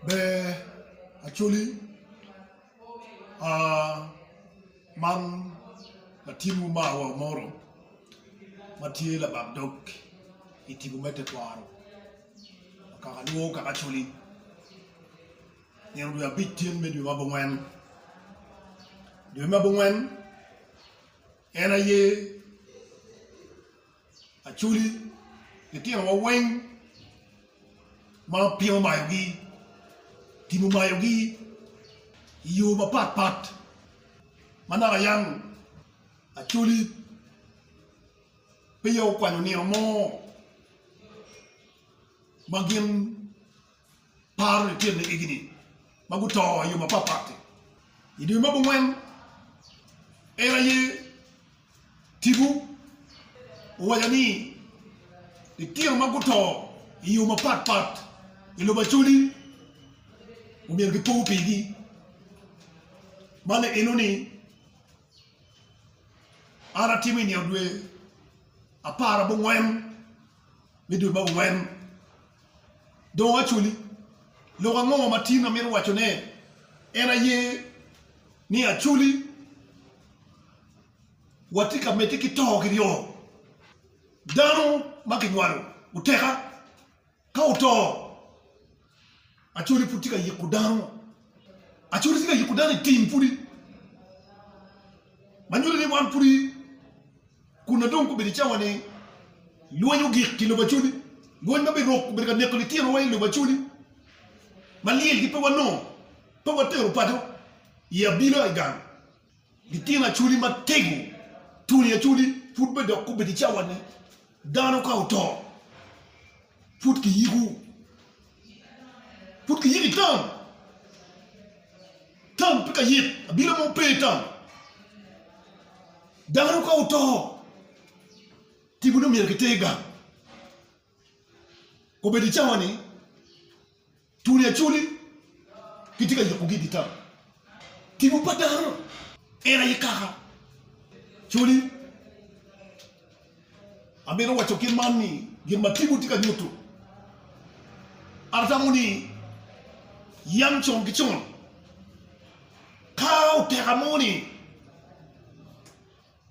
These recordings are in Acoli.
Ber Acholi, man latin mo marwa Omoro ma tye labak dog i tipo me tekwaro kaka lwongo kaka Acholi nino dwe abic cen me dwe ma abongwen, dwe me abongwen en aye Acholi, litinowa weng ma piny omayogi, tim omayogi i yo mapat pat. Manaka yang Acholi peya okwanyo nino mo ma gin paro lityen me igi ni ma guto i yo mapat pat-ti. I dwe me abongwen, en aye tipo owaco ni litino ma guto i yo mapat pat i lobo Acholi omyero gipo pigi. Man eno ni an atimo i nino dwe apar abongwen. me dul ma ongwen dong actually lok ango ma tin amito waco ne en aye ni actually watye ka mede ki to ki ryo dano ma ki nywalo oteka ka oto Acwali pud tye ka yiko dano, acwali tye ka yiko dano i tim pwodi ma nyuto ni wan pwodi kun dong gubedo i cawa ni lweny ogik ki lobo acwali lweny ma biruk obedo ka neko litino wa i lobo acwali ma lyel gi pe wanongo pe watero paco i abila i gang. Litino Acholi Matego, Tony Acholi pud pe dok obedo i cawa ni dano ka oto pud kiyiko pud kiyiko i tam, tam pe ka yit abila mo pe tam dano ka oto tipo ne omyero kiter gang obedo i cawa ni Tuli aculi gitye ka yubogi i dye tam. Tipo pa dano en aye kaka culi. Amito waco kit man ni gin ma tipo tye ka nyuto, an atamo ni yam con ki con ka oteka mo ni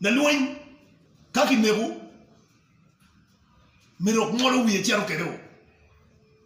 lalweny ka kineko myero ongolo wiye cito kwede o.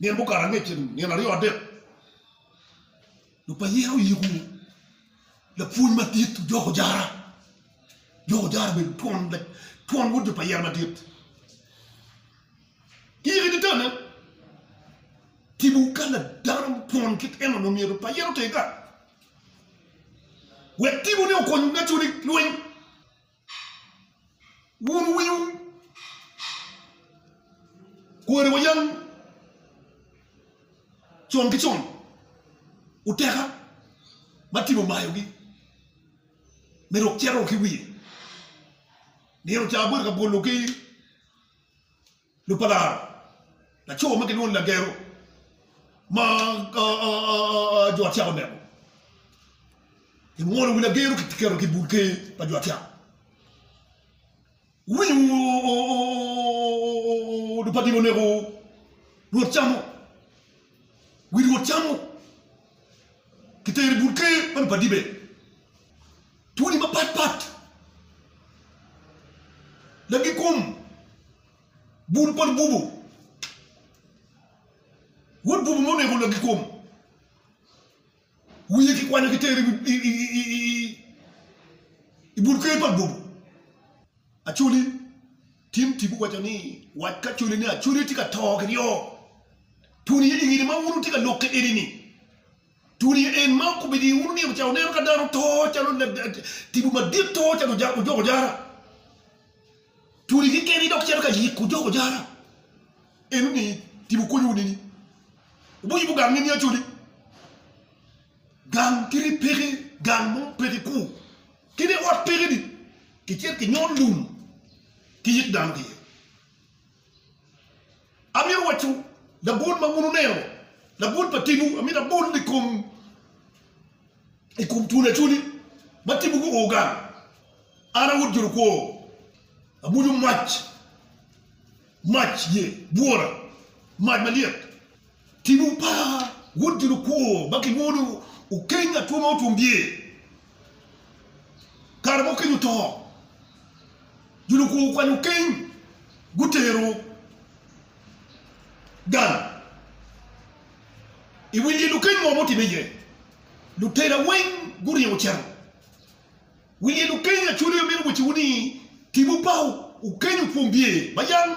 Nino mukato angecce dong, nino aryo adek, dong pa yen oyiko lapwony madit ojoko jara, ojoko jara obedo twon wod jo pa yen madit. Kiyiko idi tanne, tipo kal pa dano twon kit enoni myero pa yen otim ka wek tipone okony ngecco ni lweny. Wun wunyo kwariwa yam con ki con, oteka ma tim omayogi me rok cito ki wiye. Nino ca abedo ka bwolo ki Lupalar, laco ma gilwongo ni Lagero ma jo Acyak oneko, ingolo wi Lagero kiketo ki bur ker pa jo Acyak. Wuwinyo Lupadil oneko Rwot Camo, wi Rwot Camo kitero i bur ker pa Lupadibe. Twoni mapat pat lagi kom bul pa lububu. Wod bubu mo oneko lagi kom wiye ki kwanyo ki tero i bul ker pa lububu. Acholi Tim Tibu waco ni wac ki Acholi ni Acholi tye ka to ki ryo twoni iye ningini ma wun wutye ka lok ki eni ni Tuli en ma okobedi i unu nino ca wuneno ka dano to calo tipo madit to calo ojoko jara. Tuli keken idok cito ka yiko ojoko jara. Eno ni tipo konyo wuneni. Ubo yubo gang nini acoli. Gang kiri peke gang mo peke ku. Kine ot peke ni kicit ki nyol lum ki yik dano ki ye. Amito waco labol ma wun wuneno, labol pa timwu. Amito abol i kom i kom twoni acwoni ma timwu guo gang. An a Wod Jolukwo, abuco mac, mac ye bwora, mac malyet. Tipo pa Wod Gin Okwongo ma Kilwongo ni Okeny Atwo ma Otwom Bye Kare ma Okeny Oto, Gin Okwongo Okwanyo Okeny Gutero Gang i Wi Lyel Okeny Ngo ma Otimme Iye? Lutela Weng Guringo Ocito Wi Lyel Okeny Acwalo Yo Meno Wecewu ni Tipo pa Okeny Otwom Bye ma Yam?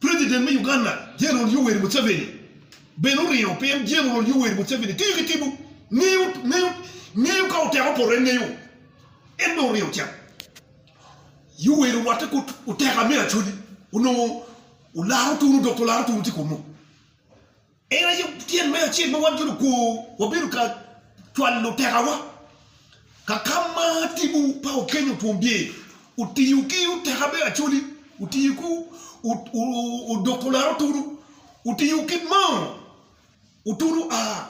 President me Uganda General Yoweri Museveni bene oringo pien General Yoweri Museveni tiyo ki tibu, ngeyo ka oteko poto en ngeyo. En bene oringo ocito. Yoweri orwatte ki oteka me Acholi onongo olaro tunu dok pe olaro tunu tye kunu. En aye tyen me acel ma wan jo lukwo wabedo ka cwalo tekawa ka ka ma timwu pa okenyo otwombi. Wutiyo ki oteka me Acholi, wutiyo ki odoko laro otunu, wutiyo ki moo otunu a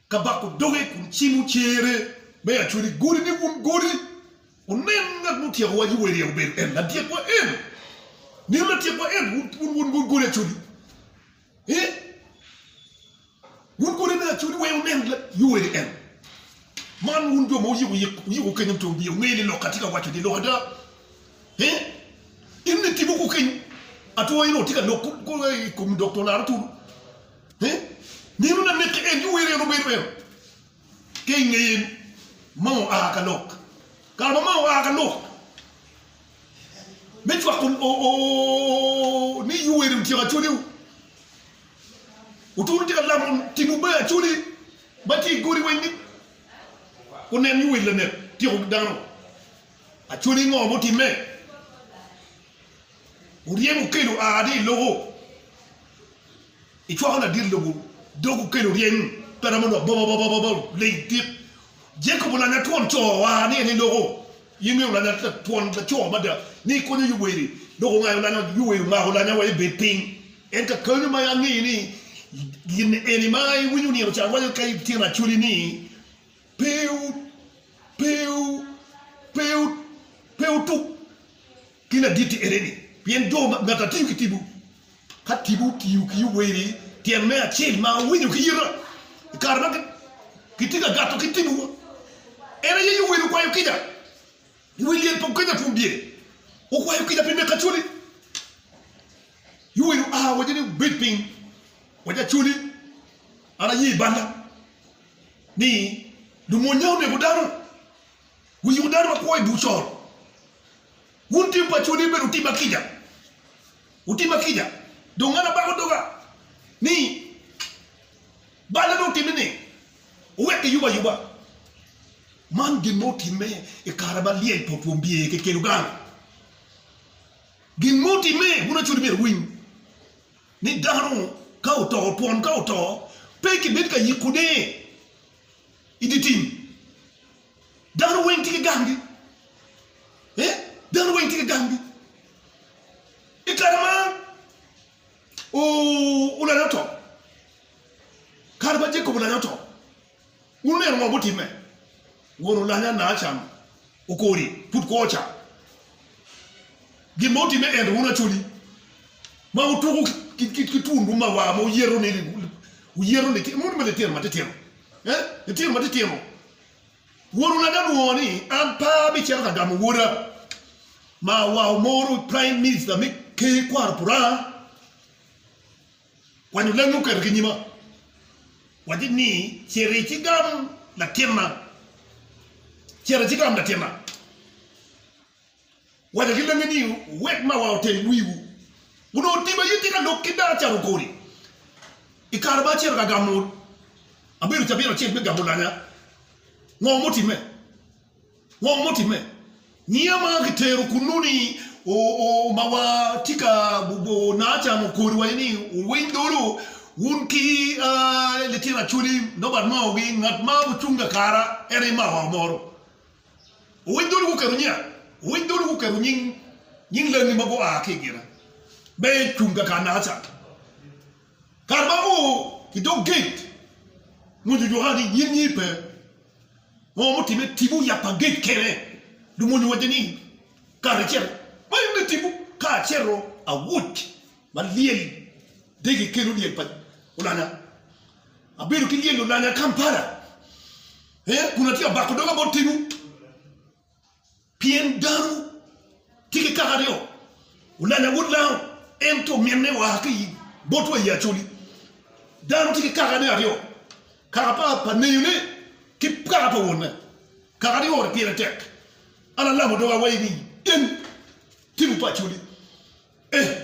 ka bako doge kun cimo cere me acwel i godi ni wun godi, wunen ngat ma otyekowa ki wele obedo en ladyekwa en, nino ladyekwa en, wun wun godi acwel i ee, wun godi me acwel i wee wunen ki wele en, man wun jo ma wuyiko yik wuyiko kenyo muto biye wungeyo ni lok atye ka waco ni lok ada ee, in ni timo kukeny atwo in dong watye ka lok kulu i kom dok to laro tulu Nino na neke en ki wer en obedo eno ki i ngeye ni ma oa ka lok. Kare ma ma oa ka lok me cwako ni yu wer otyeko acholi wu. Otunu tye ka lamo timwu me acholi ma tye i godi weng ni gunen yu wer lanek tyeko dano. Acholi ngo mutimme? Wuryemo okel oa adi i loko? Icwako ladit lobo dog okel oryem pe romo dok bobo bobo bobo leng dit. Jacob olanya twon co oa adi adi i loko? In bene olanya twon laco mada ni ikonyo Yoweri dok ongayo lanya Yoweri omako lanya wa ebed piny en ka kanyo ma angeyo ni gin eni ma iwinyo nino ca rwaco ka itino acoli ni pe pe pe pe otuk. Gin aditti ene ni, pien jo ma ngata tiyo ki tipo, ka tipo otiyo ki owerri tyen me acel ma owinyo ki yita, i kare ma kitye ka gato ki tipowa, en aye yo wel okwayo kica, wel lyel pa okeca twom bye, okwayo kica pi nek Acholi. Yo wel oa owaco ni, Wubed piny, waco Acholi, an aye balla, ni lumwonya oneko dano. Wiyiko dano makwo i bur cor. Wun tim pa cwodwu bedo otima kica, otima kica. Dong an abako doga ni bal ame otimme ni owek kiyub ayuba. Man gin ma otimme i kare ma lyel pa otwom bye keken ogang. Gin ma otimme, wun acwodi myero wuwiny ni dano ka oto, twon ka oto, pe kibed ka yikone i dye tim. Dano weng tye ki gamgi. Eh, dano weng tye ki gamgi. I kare ma u- ulanya oto, kare ma Jacob ulanya oto, wun wuneno ngo mutimme? Won ulanya na can okori, pud kwo ca. Gin ma utimme ento wun acoli, ma wutuko ki, ki, ki, ki twunwu ma wa, ma wuyeto ni, wuyeto litino, moni me litino matitino, eh, litino matitino. Woro lada olwongo ni an pe abicito ka gamo woda ma awao moro Prime Minister me Ker kwaro puranga kwanyo lami oketo ki nyima waci ni citi ci gam latinna citi ci gam latinna Wacca ki lenge ni wek ma wa otel wiwu. Onongo tima aye tye ka lok ki dano calo goli. I kare ma acito ka gamo abedo cabit acel me gamo lanya, ngo mutimme? Ngo mutimme? Ngiya ma kitero kunnu ni ma wa tye ka Naacan okodo wa ni wuwiny dolo wun ki litino acholi, nobert maogi, ngat ma wucung kakara en aye mawa omoro. Wuwiny dul guketo nya. Wuwiny dul guketo nying nying lengi ma gua ki i gine me cung kaka Nacan. Kare ma gu i dog gate mwonyo juka ni nyim nyi pe. Ngo mutime? Tipo yap pa gate kene lumwonyo wacce ni kare acel ma en bitipo ka acero awuc ma lyel dege kelo lyel pa olanya. Abedo ki lyel olanya Kampala. Ee, kun atye ka bako doga bot timwu, pien danowu tye ki kaka aryo, Ulanya wod Lao, en to minne oa ki i botwa i Acoli. Dano tye ki kakane aryo, kaka pa neyone ki kaka pa wonne. Kaka ni oro pire tek, an alamo doga wa i ni, in, Tim pa Acoli. Ee.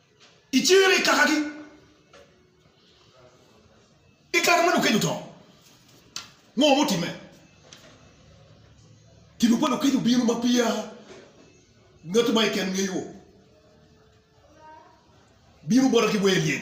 I cinge me kakagi, i kare ma Lukeje oto, ngo mutimme? Tipo pa Lukeje obino ma peya ngat mo keken ngeyo. Bino bota ki wer lyel.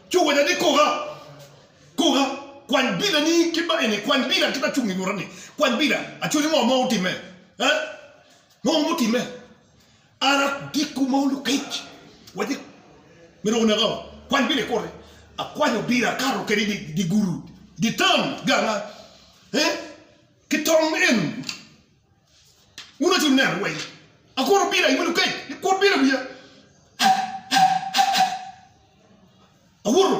Co wene ni, Koga, koga, kwany bilani kit ma eni, kwany bila kit ma cung inyuta-ni, kwany bila, acwali ngo ma otimme, ee, ngo ma otimme? An adiko ma olukec, wacci myero oneka-o, kwany bila ikute. Akwanyo bila, akato kwede i dye guru, i dye tam ganga, ee, ki tong en. Wun aci wuneno weng. Akuru bira i welu kec ni kut bira i wiya. Awuto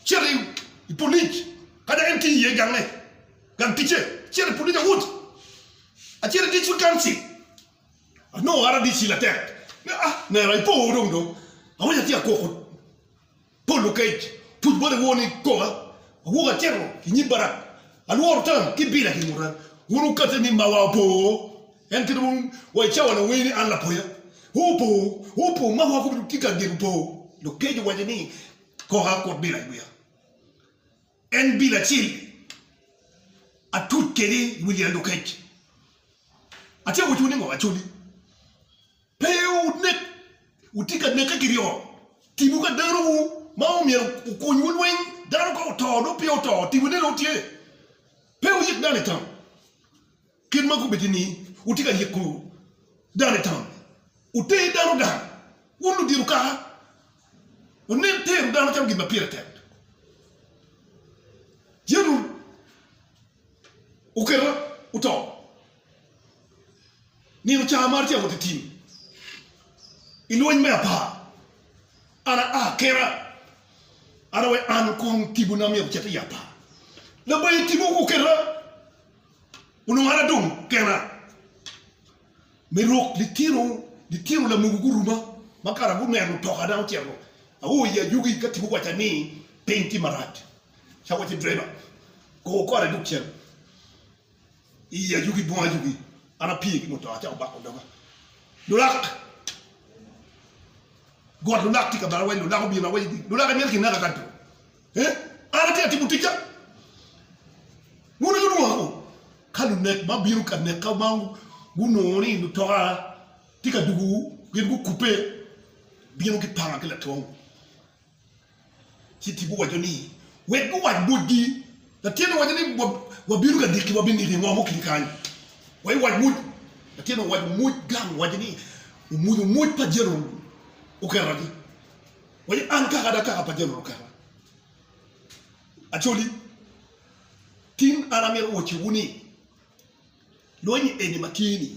cito i polic ka dok en tye iye gange, gang ticce. Acito i polic awuto. Acito i district council anongo RDC latek ni ah nera ipo dong dong awic atye akoko. Polo kec, pud boti wor ni koma awok acito i nyim Barak, alworo tam ki bila ki nguta. Wun wukati ni mawa opo, en kit wun wa i cawa lawer ni an lapoya opo, opo, mawa kono tye ka gedo opo. Dok kec owaco ni, Koka akut bila i wiya, en bila acel atuc kwede i wi lyel dok kec. Atyeko waco ni ngo? Acoli. Pe wunek, wutye ka neke ki ryeko. Timwu ka danowu ma myero okunywu lweny, dano ka oto nongo peya oto, timwu nene tye. Pe wuyik dano i tam, kit ma gubedo ni wutye ka yiko dano i tam. Wuter dano gang, wun ludito kaka wunen tero dano calo gin ma pire tek. Yecu oketo oto. Nino ca amaro tye awot i tim i lweny me apar, an aa kena, an awe an kong tibona myero ocit i apar. Labayi tipo guketa, onongo an adong kena. Me rok litino litino lamogo guruma ma kara guneno mutoka dang ocito, ao i ajugi ka tipo owaca ni piny tye marac, ca awaci driver, kor kore dok cen. Iyi ajugi bung ajugi, an apye ki mutoka ca obako doga. Lulak! Got lulak tye ka bala awaco, lulak obino awaco ni, lulak imito kinaka kadi dong? Ee, an atye ka timo ticca. Wun wunongo lwonga kong? Ka lunek ma bino ka neka ma gunongo ni mutoka tye ka dugu gin gukubbe, bino gipanga ki latwom. Ci tipo owaco ni, Wek guwac botgi, Latinne owaco ni, Wabino ka diki, wabiniki i ngom okinyi kany, wa iwac mwoc. Latinne owaco mwoc gang, owaco ni, Omwonyo mwoc pa Jeneral Okerra-ni, waco, An kaka ada kaka pa Jeneral Okerra. Acholi, tin an amito wacciwu ni, lweny-nyi eni ma tye-ni,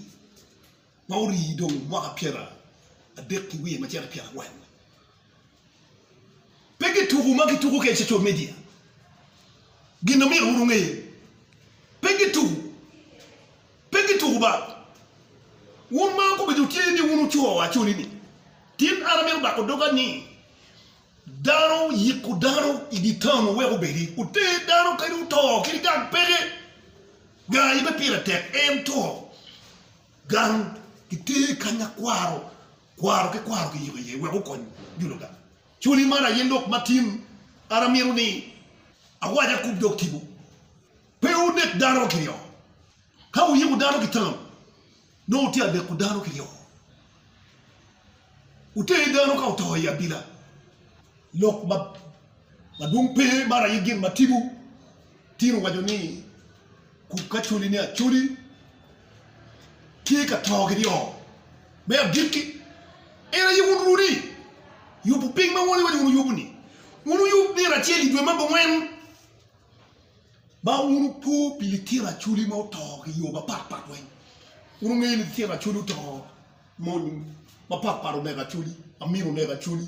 ma orii dong mwaka pyera adek ki wiye macito pyera angwen, Pe ki tuku ma ki tuku ki i social media gin omyero wun wunge ye pe ki tuku pe ki tuku ba wun ma gubedo tye ni wun wuco wa coli ni tin an amyero bako doga ni dano yiko dano i di town oweko obedi oter dano kadi oto kadi gang peke ga aye pe pire tek en to gang ki ter kanya kwaro Kwaro ki kwaro kiyiko iye wek okony jo Luda. Culi man aye lok ma tin an amito ni awac akub dok tipo, Pe wunek dano kiryo. Ka wuyiko dano ki tam, nongo wutye ka neko dano kiryo. Wuteni dano ka oto i abila. Lok madwong pe man aye gin ma tipo. Tito owaco ni, Kub ka culi ni aculi tye ka to ki dyo. Me agikki, en aye wun runi. Yubu piny ma woni waco wun wuyubu-ni. Wun wuyub nino acel i dwe ma abongwen, ma wun wupo pi litino aculi ma oto ki yo mapat pat weng. Wun wungeyo ni litino aculi oto mony mapat pat oneko aculi, amino oneko aculi.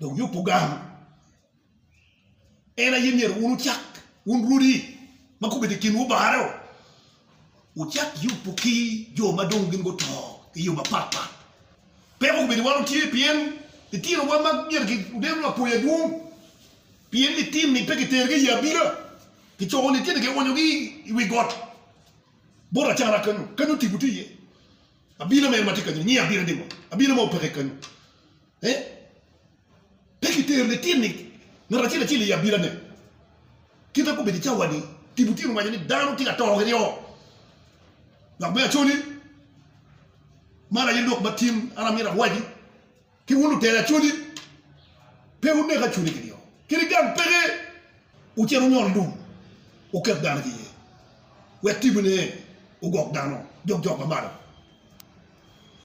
Dong yubu gang. En aye myero wun wucak, wun rwodi ma gubedo i kinwu bareo, wucak yubu ki jo ma dong gin guto i yo mapat pat. Peko kobedo iwan otye pien litinowa ma myero ginen lapoya dwong, pien litini pe kitergi i abila, kicoko litini kionyogi i wi got bot acara kenyo, kenyo tipo tye iye. Abila mene ma tye kenyo-ni nyinge abila ni ngo? Abila ma opeke kenyo. Pe kitero litini ngat acel acel i abilane. Kit ma gubedo i cawa-ni, tipo tye ka waco ni dano tye ka to kiryo. Lok me Acholi, Man aye lok matin an amito awaci ki wun lutela Acholi, Pe wunek Acholi kiryo kadi gang peke. Wucit wunyol lum, wuket dano ki iye, wek tipone ogok dano, jok jok ma malo.